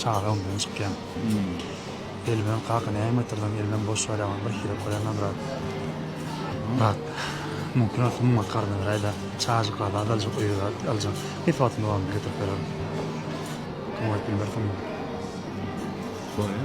Çaga öňden çykýan. Elben kaka näme getirdiň elben boş barýaňyz bir hile koýaňa brat. Brat mumkin bolsa mum akaryn beräýdä çajyklary azaljak öýe brat aljak hiç wagtym dowamynda getirip bererin. Kim aýyp bilmersiň meni. Şoýa.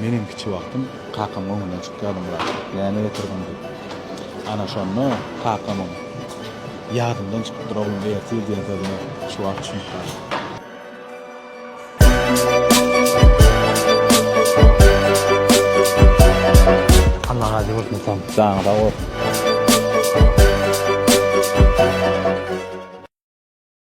Menem kiçi wagtym kakamyň öňünden çykýardym biraz, näme getirdiň diýip. Ana şonda kakamyň Ýadymdan çykypdyr oglum ertir diýen sözüne şu wagt düşünip galyň. Alla razy bolsun Tom. Janyň sag bolsun.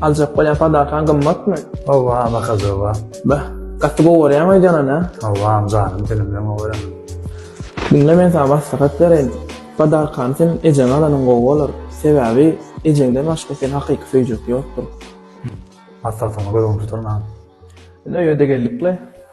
Aljak bolýan padakaň gymmatmy? Hawa, bakazowa. Beh, gaty gowy görýäň öýdýäňem, hä? Hawa, janym seniň bilen gowy göremok. Diňle, men saňa maslahat bereýin. Padakany sen ejeňe alanyň gowy bolar. Sebäbi, ejeňden başga seni hakyky söýjek ýokdur. Maslahatyňa göz-göni tutaryn, agam. Indi öýe-de geldik-le.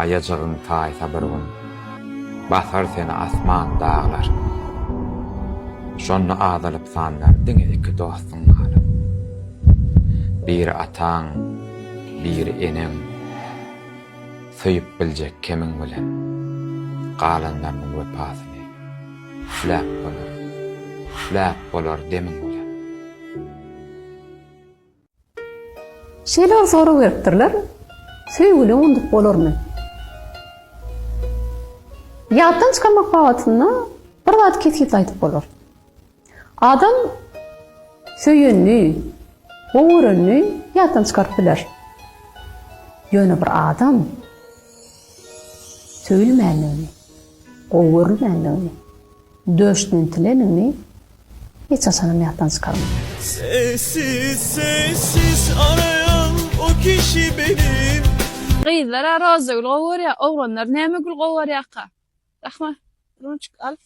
Aýajygyň taýsa bir gün. Basar seni asman, daglar. Şonda azalyp sanlar diňe iki dostuň galar. Biri ataň, biri eneň. Söýüp biljek kemiň bilen. Galanlarynyň wepasyny üfläp bolar, üfläp bolar demiň bilen. Şeýle bir sorag beripdirler, Söýgüli undup bolarmy? Ýatdan çykarmak babatynda bir zat kesgitli aýdyp bolar. Adam söýenini, gowy görenini ýatdan çykaryp biler. Ýöne bir adam söýülmändigini, gowy görülmändigini, Döşdintileniňi hiç haçanam ýatdan çykarma. Sessiz sessiz arayan o kişi benim. Gyzlara roza gül gowy görýär oglanlar näme gül gowy görýärka rahmat ruçka al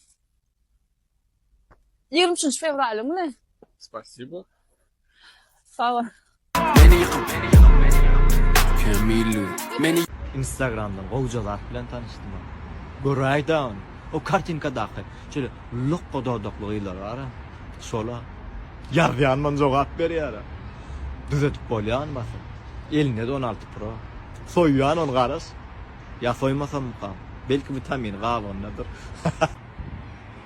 ýigrimi üçünji fewralyňmy? Spasibo. Sag bol. Instagramdan gowja zat bilen tanyşdym. Göräýdä ony. O kartinkadaky şeýle lokga dodakly gyzlar bara. Şola. Ýazýanman jogap berýär. Düzedip bolýa ony basyp. Elinde-de on alty pro. Soýýan ony garaş. Ýa soýmasammykam. Belki witamini galondadyr.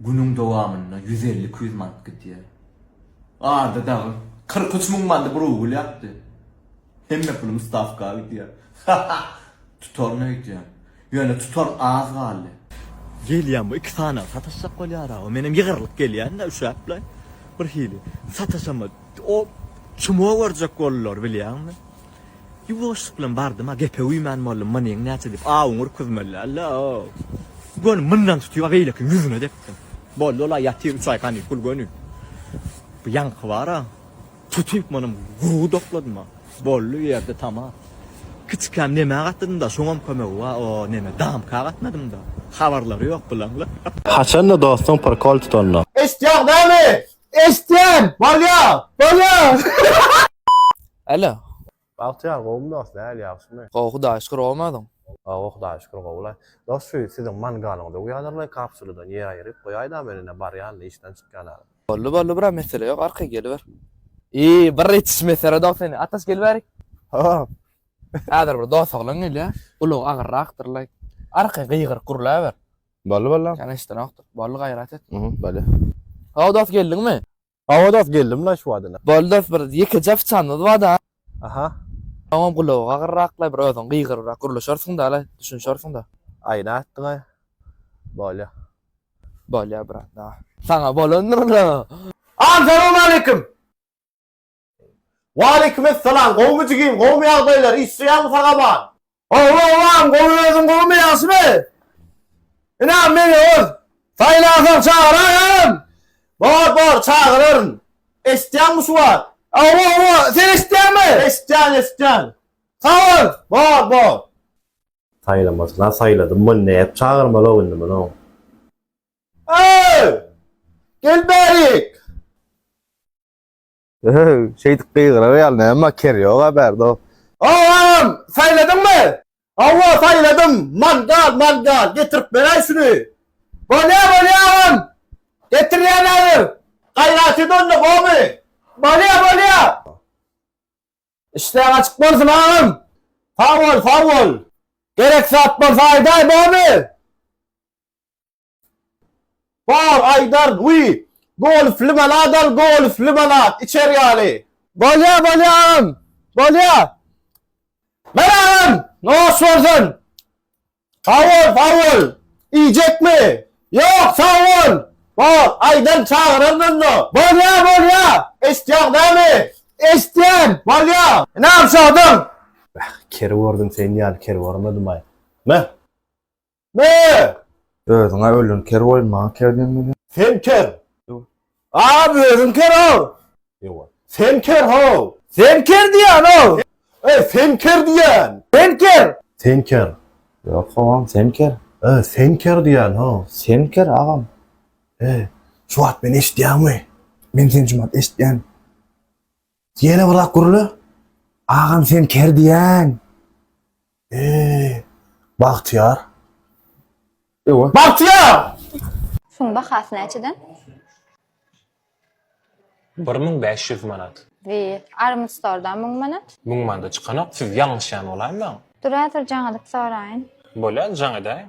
Günüň dowamynda ýüz elli-iki ýüz manat gidýär. Arda dagy kyrk üç müň mandy bir ugur ýapdy. Hemme pulum stawka gidýär. Hahah! Tutaryna öýtýän. Ýöne tutar az galdy. Gelýän bu iki sanaw sataşjak bolýar-a. Menem ýygrylyp gelýän-de üşäp-le birhili. Sataşamok. O çumow görjek boldular bilýäňmi. Ýuwaşlyk bilen bardym-a, gepe uýman boldum, Manyň näçe diýip, awuňy urkuzmaly däl-ow. Göni mundan tutyp-a beýlekiniň ýüzüne depdim. Boldy ol-a ýatyr üç aý kanikul göni. Bu ýaňky bar-a, tutyp muny gury dokladym-a. Boldy bu ýerde tamam. Kiçikäm nemä gatdydym-da, şoňam kömegi bar, o neme, damka gatnadym-da. Habarlary ýok bularlar. Haçanda dostuň prikol tutanda. Eşitýäň näme? Eşitýän! Bolýar! Bolýar! Alo. Bagtyýar gowumy dost nähili ýagşymy. Gowy hudaýa şükür gowumy özüň. Gowy hudaýa şükür gowulaý. Dost şu siziň mangalyňyzy uýadyrlaý kapsuladan ýer aýyryp goýaýda men ine barýan işden çykýan alyp. Boldy boldy bro mesele ýok arkaý geliber. Iý bir ýetiş mesele dost indi ataş gelibärik. Hop. Häzir bir dost oglan gelýä gulagy agyrraktyrlaý arkaý gygyryk gurlaber. Boldy boldy. Kän eşidenokdyr. Boldy gaýrat et. Boldy. How dost geldiňmi. Awadas geldim la şu wada. Bol dos bir ýekeje fyçanymyz barda. Aha. Soňam gulagy agyrraklay bir özüň gygyrybrak gürleşersiňda alaý düşünşersiňda. Aýna atdyňaý. Bolýa. Bolýa brat. Saňa bolandyr ola. Assalamu aleykum. Waleykimessalam gowmy jigim gowmy ýagdaýlar işleýäňmi sagaban. Gowy agam gowy özüň gowmy ýagşymy ine meni öz saýlasaň çagyr agam. Bor bor çagyraryn eşitýäňmi şu wagt. Hawa hawa sen eşitýäňmi. Eşitýän eşitýän. Sag bol. Bor bor. Saýlamasyna saýladym muny nädip çagyrmalok indi muny. Öööy! Gel bärik! Şeýdip gygyrar ýaly näme ker ýoga bärde. Agam! Saýladyňmy? Hawa, saýladym. Mangal, mangal. Getirip beräý şuny. Bolýa, bolýa agam. Getirýän häzir. Gaýrat et onda, gowymy? Bolýa, bolýa. Işleň açyk bolsun agam. Sag bol, sag bol. Gerek zat bolsa aýdaý, gowymy? Bar aýdar guý. Golfli bala dal golfli bala içer ýaly. Bolýa bolýa agam bolýa. Men agam nos bolsun. Sag bol sag bol. Iýjekmi? Ýok sag bol. Bar aýdan çagyraryn onda. Bolýa bolýa. Eşitýäň dämi? Eşitýän. Bolýa. Inim şadyň. Bäh ker gördüm sen ýaly ker görmedim aý. Meh. Mö! Özüň-ä ölen ker boýun maňa ker diýmeli. Sen ker! Ýo. A-a özüň ker-ow! Ýo-a. Sen ker-how! Sen ker diýýän-ow! E, sen ker diýýän! Sen ker! Sen ker! Ýok, howam, sen ker! E, sen ker diýýän-how! Sen ker, agam! E, şu wagt meni eşidýäňmi? Men seni şu wagt eşitýän. Ýene bir zat gürle. Agam sen ker diýen. Eee. Bagtyýar. Ewa. Bagtyýar! Şuň bahasy näçeden? Bir müň bäş ýüz manat. Wi, Armstordan müň manat. Müň manada çykanok, siz ýalňyşýan bolaýmaň. Dur häzir jaň edip soraýyn. Bolýar, jaň edäýiň.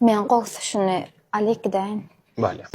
Men gowsy şuny alyp gidäýin. Bolýar.